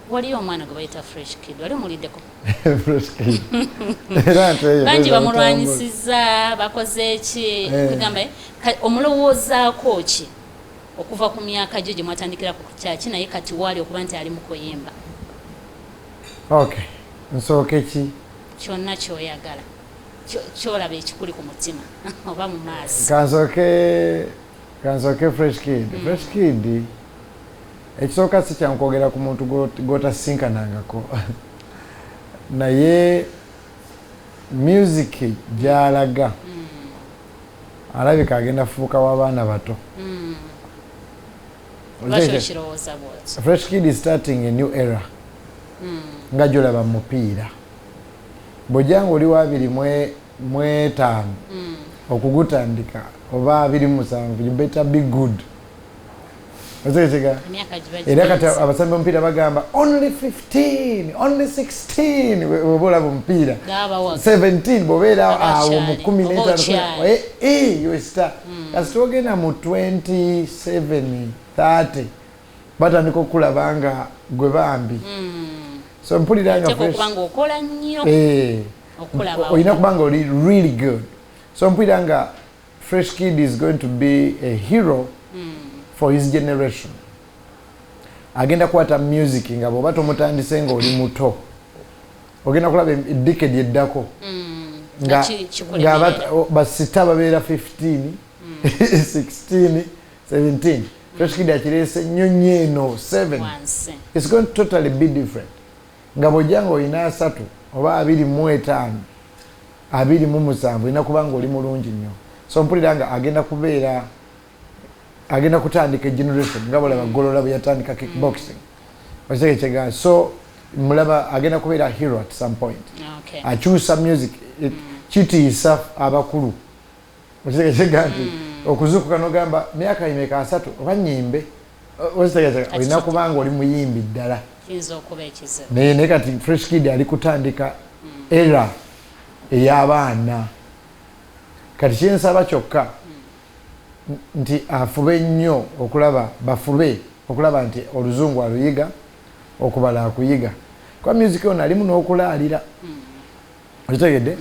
waliyo omwana gwe bayita fresh kid wali omuliddeko bangi bamulwanyisiza bakoze eki eh. kugamba eh, omulowoozaako ki okuva ku myaka gyo gye mwatandikira ku kyaki naye kati waali okuba nti ali mukuyimba ok nsooke ki kyonna kyoyagala kyolaba ekikuli ku mutima oba mu maaso kansoke kansoke fresh kid mm. fresh kid Ekisooka si kyangu kwogera ku muntu gw'otasinkanangako naye music gy'alaga mm. alabika agenda fuuka w'abaana bato mm. fresh kid is starting a new era mm. nga gyolaba mu mupiira bwojanga oli wabiri mwetaano okugutandika oba abiri musanvu you better be good otegekega era kati abasambi omupiira bagamba only 15 only 16 oba olaba omupiira 17 bwobeera awo mu 15 eh, eh, yosta hmm. kasi twogenda mu 27 30 batandika okukulaba nga gwe bambi hmm. so mpulira nga eh. olina kuba nga oli really good so mpulira nga Fresh Kid is going to be a hero mm. for his generation. Agenda kwata music nga bwoba tomutandise nga oli muto ogenda kulaba edikedi eddako mm. nga basita babeera 15 16 17 Fresh Kid akireese nnyonyi eno 7 It's going to totally be different Nga bw'ojja nga olina asatu oba abiri mu etaano, abiri mu musanvu, olina kuba nga oli mulungi nnyo. So mpulira nga agenda kubeera, agenda kutandika generation nga bw'olaba Golola bwe yatandika kickboxing. Okitegeera kye ŋŋamba? So mulaba agenda kubeera hero at some point. Akyusa music. Kitiisa abakulu. okitegezega nti hmm. okuzukuka nogamba myaka imeka asatu oba nyimbe okitegezega olina kubanga oli muyimbi ddala naye naye kati fresh kid ali kutandika hmm. era eyabaana kati kyensaba kyokka hmm. nti afube nnyo okulaba bafube okulaba nti oluzungu aluyiga okubala akuyiga kuba music ono alimu nokulaalira okitegedde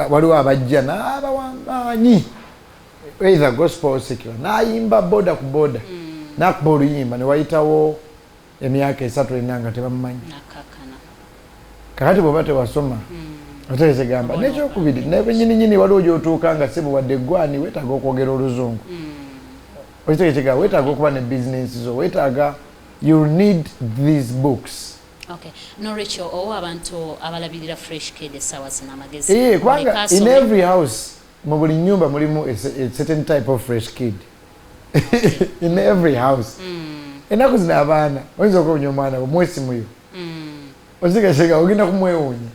waliwo abajja n'abawamanyi either gospel secular n'ayimba boda ku boda mm. nakuba oluyimba newayitawo emyaka esatu ena nga tebamumanyi kakati bwoba tewasoma mm. otegeze gamba nekyokubiri nebenyininyini waliwo gyotuuka nga sibu wadde gwani wetaaga okwogera oluzungu mm. okitegekigamba wetaaga okuba ne bizinensi zo wetaaga you need these books Ok nolwekyo owa abantu abalabirira fresh kid esawa zino amagezi ee eh, kubanga in every house mu buli nyumba mulimu a certain type of fresh kid in every house hmm. enaku zino abaana oyinza okuwonya omwana we mwesimuyo hmm. ozigasega ogenda kumwewunya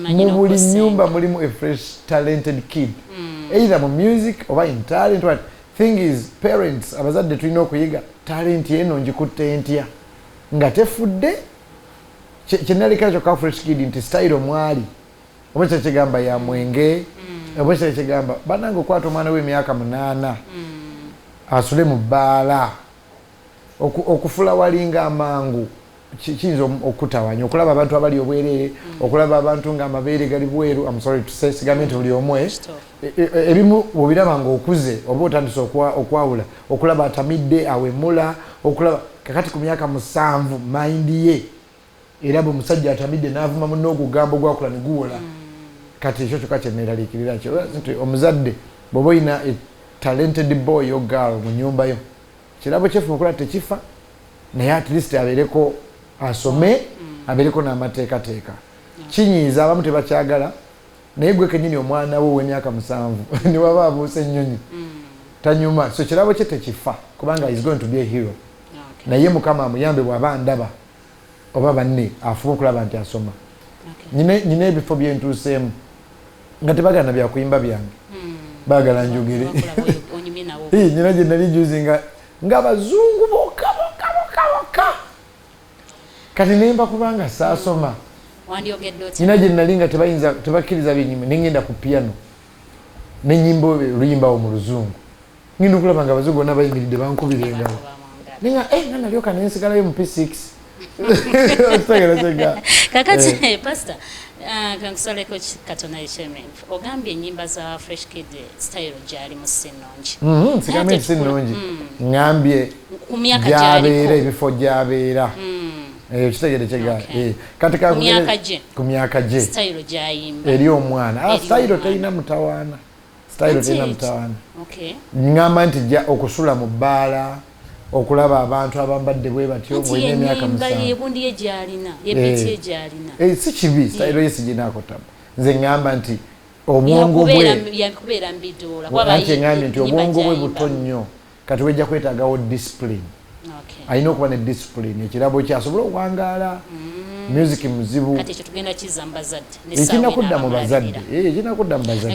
mu buli nyumba mulimu a fresh talented kid hmm. either mu music oba in talent what thing is parents abazadde tulina okuyiga talent eno njikutte ntya nga tefudde kyenalekera kyokka fresh kid nti style omwali oba kya kigamba ya mwenge mm. oba kya kigamba banange okwata omwana w'emyaka munaana mm. asule mu bbaala okufula walinga amangu kiyinza okutawanya okulaba abantu abali obwereere mm. okulaba abantu nga amabeere gali bweru amusory to say sigambe nti buli omwe E, e, e, ebimu bwobiraba nga okuze oba otandise okwawula okulaba atamidde awemula okulaba kakati ku myaka musanvu mayindi ye era bwe musajja atamidde navuma muna ogugambo gwakula niguwola mm. kati ekyo kyoka kyeneraliikirira nti omuzadde bwoba olina talented boy o girl mu nyumba yo kirabo kyefuma okulaba tekifa naye at least abeereko asome mm. abeereko n'amateekateeka kinyiiza abamu tebakyagala naye gwe kenyini omwana wo owemyaka musanvu newaba abuusa ennyonyi mm. tanyuma so kirabo kye tekifa kubanga is going to be a hero naye mukama amuyambe bwaba ndaba oba banne afuba okulaba nti asoma nyina ebifo byentuuseemu nga tebagana byakuyimba byange hmm. bagala njogere nyina gyenali juzi nga abazungu boka boka boka boka kati nemba kubanga saasoma nina gye nali nga tebakkiriza byenyimba ne ngenda ku piano ne nyimba oluyimbawo mu luzungu ngenda okulaba nga abazungu bona bayimiridde bankubira engalo naye nga eh, nalyoka nensigalayo mu p six kakati eh. eh, pasita ah, kankusaleko katonda ekyemembe Ogambye enyimba za Fresh Kid style gyalimu si nnungi. Mm-hmm, Sigambye nti si nnungi, mm. ngambye gyabeera ebifo gyabeera mm. eh, ekitegere kyegaa eh, kati ku myaka gye eri omwana ah, style terina mutawaana style terina mutawaana ngamba nti ja okusula mu bbaala okulaba abantu abambadde bwe batyo olina emyaka musanvu eh. si kibi style ye siginaako tabu nze ŋŋamba nti obwongo bwenkyeŋambye nti obwongo bwe buto nnyo kati wejja kwetagawo discipline alina okuba ne discipline ekirabo kye asobole okuwangaala mm. music muzibu ekirina kudda mu bazadde ekirina kudda mu bazadde